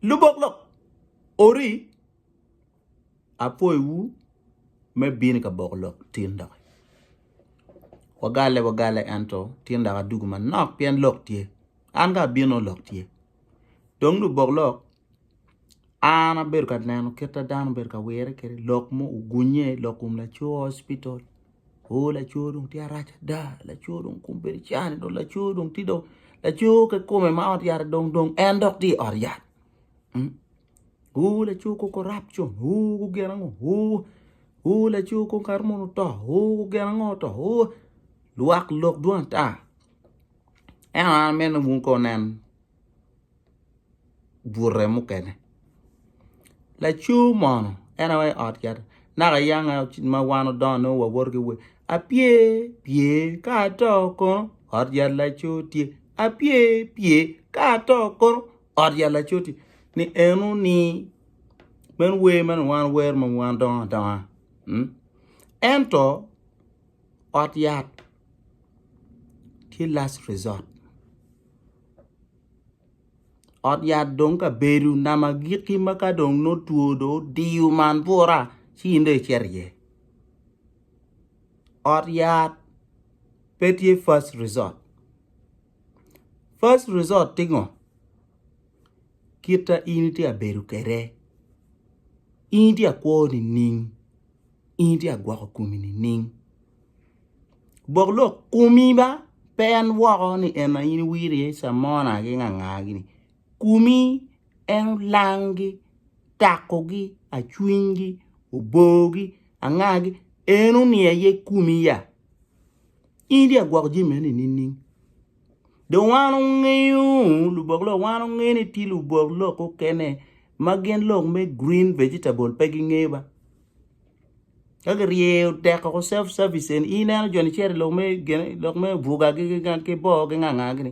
Lubok lok ori apwoyo wu me bino ka boko lok tin doki wagale wagale ento tin doki adugu manok pien lok tye an ka abino lok tye dong lubok lok an abedo ka neno kit ma dano obedo ka wire kwede lok ma ogunye lok kom laco hospital. Oh laco dong tye arac ada laco dong kome bedo car dong laco dong tye dong laco ki kome ma ot yat dong dong en dok tye i ot yat oh laco kong ko rap con oh ko gin ango oh oh laco kong kato mono oto oh ko gin ango oto oh lwak lok dwong ata ento an ameno bun kong nen. bute mukene laco mono en aye ot yat naka yanga ma wan odongo nongo wawoto ki wer apye pye ka ato kono ot yat laco tye apye pye ka ato kono ot yat laco tye ni eno ni meno wer ma wan wero ma wan dongo adonga ento ot yat tye last resort. Ot yat dong ka bedo nama agikki ma ka dong nongo two dong odiyo man bura ci in dong icito iye. Ot yat pe tye first resort, first resort tye ngo? Kita in itye ka bedo kwede, in itye ka kwo nining? in itye ka gwoko komi nining? Bok lok komi ba pe en woko ni en aye in iwito iye camona ki nganga gini komi en olangi, takogi, acwinygi, obogi, angagi en oniye iye komi ya? In itye ka gwoko jami eni nining? Dong wan wungeyo, lubok lok, wan wungeyo ni tye lubok lok mukene ma gin lok me green vegetable pe gingeyo ba. Ka giryeyo tek woko self service eni, in ineno joni cito i lok me gin lok me buga gi ki boo gi nga nga gini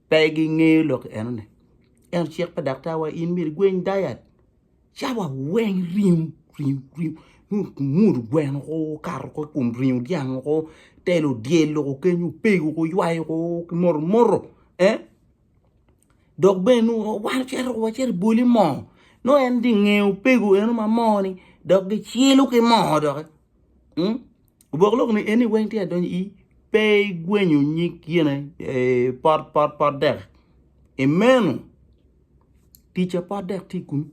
pe gingeyo lok enoni. Ento cik pa daktar wa in myero igweny diet. cawa weng ringo ringo ringo nongo omudo gweno ko okato ko i kom ringo dyang ko telo dyel loko kenyo opego ko ywayo ko ki moto moto eh dok bene nongo wan ocito wa cito i bwoli moo nongo en tye inge opego eno ma moo ni dok gicilo ki moo doki obok lok ni eni weng tye ka donyo i pe igwenyo nyig yene pot pot pot dek imeno. ticca pe adek tye kunu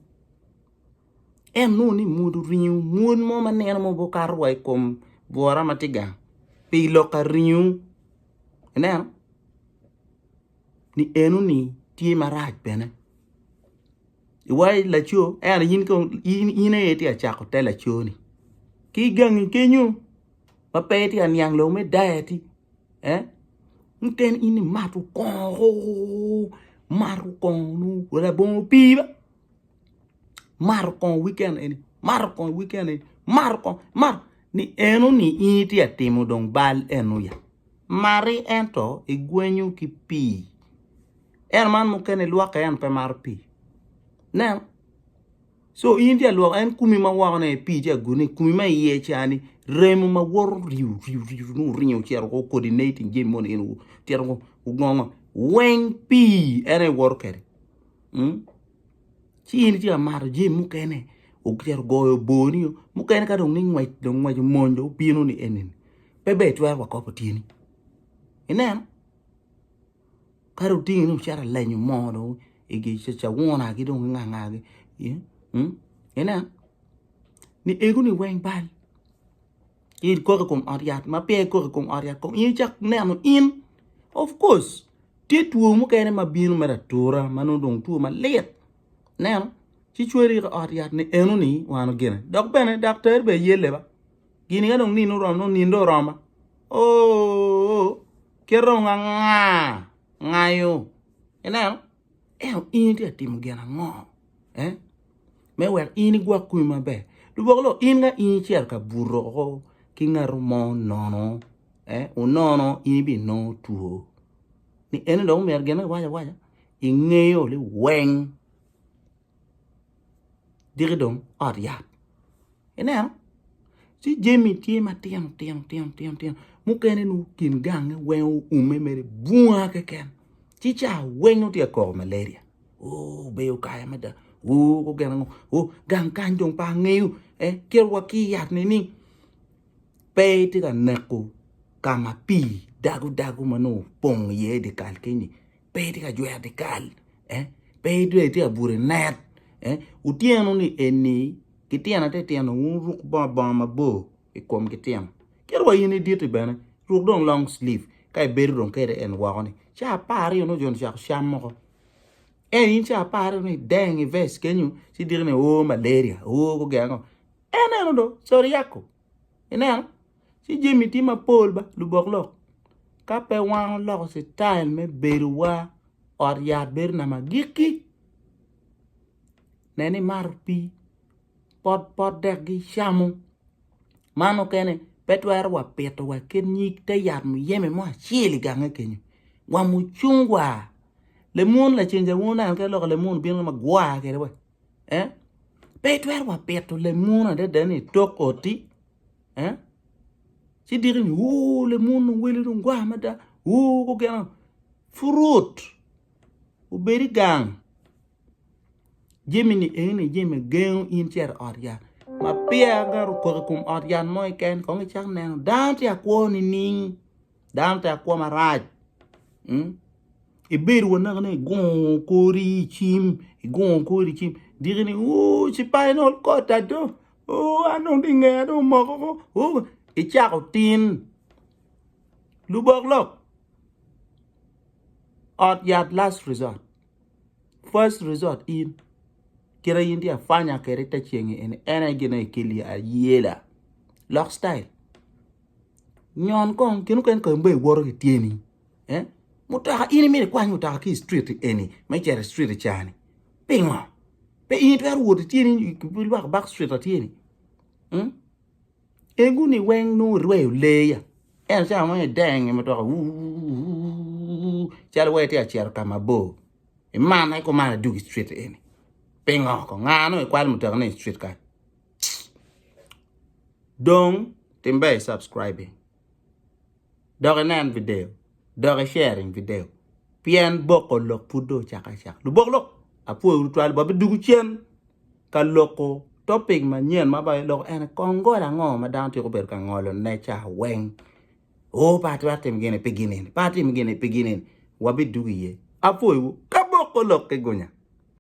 en nongo ni mwod oringo mwod mo ma neno ma obwoo kato wa ikom bwora ma tye gang pi lok ka ringo ineno ni eno ni tye marac bene iwaci laco ento in kong in aye itye ka cako te laco ni ki igangi kenyo ma pe itye ka niang lok me diet-ti eh miten in imato kongo imato kongo nongo labongo opii be imato kongo wiken eni imato kongo wiken eni imato kongo imato ni enoni in itye ka timo dong bal eno ya mati ento igwenyo ki pii eno man mukene ilwokke ento pe mato pii nen So in tye alwoko en kumi ma woko ne pi tye agune kumi ma iye cha ni remo ma woro riu riu riu nu ringo cero ko kodi ne itin jemi mo in tito ko ugongo weng pi en e woro kere hmm? ci in tye amato jemi mukene ocero goyo boni mukene ka dong ni ngwec dong ngwec omony dong bino ni enini pe be twero wa kopo tyeni ineno Ka dong otingi dong icito ilenyo moo dong i gi cawuna gi dong nga nga gi ineno ni egu ni weng bal in kok i kom ot yat ma peya i kok i kom ot yat kong in icak neno in of course tye two mukene ma bino mere atura ma nongo dong two malit ineno ci cweri ki ot yat ni eno ni wano gene dok bene daktari bene aye leba gini ka dong nino oromo nino dong oroma oo kite dong anga ngayo ineno ento in itye ka timo gin ango me wek in igwok kome maber lubongo loo in ka in icito ka buto woko ki ngato mo nono onono in ibinongo two ni eno dong omyero gine awaca awaca ingeyo ni weng. diki dong ot yat ineno ci jami tye matino tino tino tino mukene nongo kin gange weng oume mere bunga keken ci ca weng nongo tye ka koko malaria oo obedo kare mada oo gu gin ango oo gang kany dong pe angeyo ee kit wa ki yat nining pe itye ka neko ka ma pii dago dago ma nongo opong iye dikal kenyi pe itye ka jwero dikal pe dong itye ka buto i net otyeno ni eni ki tyena te tyeno wuruk bongo bongo mabor i kom ki tyeno kit wa in iditi bene ruk dong long slip ka ibedo dong kede en woko ni ca apar aryo ni ojo ni ocako cam moko en in ca apar aryo ni deng i vest kenyo ci diki ni o malaria o guge ango en eno dong codi yako Ineno? Ci jami tye mapol ba lubok lok. Ka pe wan oloko citail me bedowa, ot yat bedo nama agikki. Nen imato pii, pot pot dek gicamo. Man mukene pe twero wa pito wa kit nyig te yat muyeme mo acel i gange kenyo. Wa mucungwa, lemun laceng cawunu oneno kit lok lemun obino kama gwa kede wa. eh? Pe itwero wa pito lemun adada ni tok oti, eh? Ci diki ni, uu, lemun dong wele dong gwa mada, uu, kugeno, fruit, ubedi gang. Jemi ni eni jemi gengo in cero ot yat. Ma piya gara okok i kum ot yat mo iken, kong icak neno, dano ti akwo nining? dano te akwo marac ibedo wa naka ni igungo kori icim igungo kori icim diki ni ooh cipainol kota do ooh an dong dong ngeya dong omoko ko ooh icako tin lubok lok ot yat last resort first resort in kit in tye afanya kwede te ceng eni en aye gin ma ikeli ayela lok citayil. Nyon kong kine mukene ka in dong iwoto ki tyeni eh mutoka in imito ikwany mutoka ki i street eni me cito i street cani pingo? Pe in itwero wot ityeni ki lwak back street ma tye-ni mm eguni weng nongo irweyo lee ya ento cawa ma ideng i mutoka wuuwuu calo iwai itye ka cito ka mabor imanna ikumara idog i street eni pingo kong? Nga nongo ikwalo mutoka-ni i street kany? Dong tim ber i subscribing dok inen video dok i sharing video pien boko lok pud dong ocako acaka lubok lok apwoyo tutwal wa bidwogo cen ka loko topic manyen ma ba iloko ene kong ngolo ango ma dano twero bedo ka ngolo ne ca weng o pe atwero timo gini pi gin eni pe atimo gini pi gin eni wa bidwogo iye apwoyo wu ka boko lok ki gunya.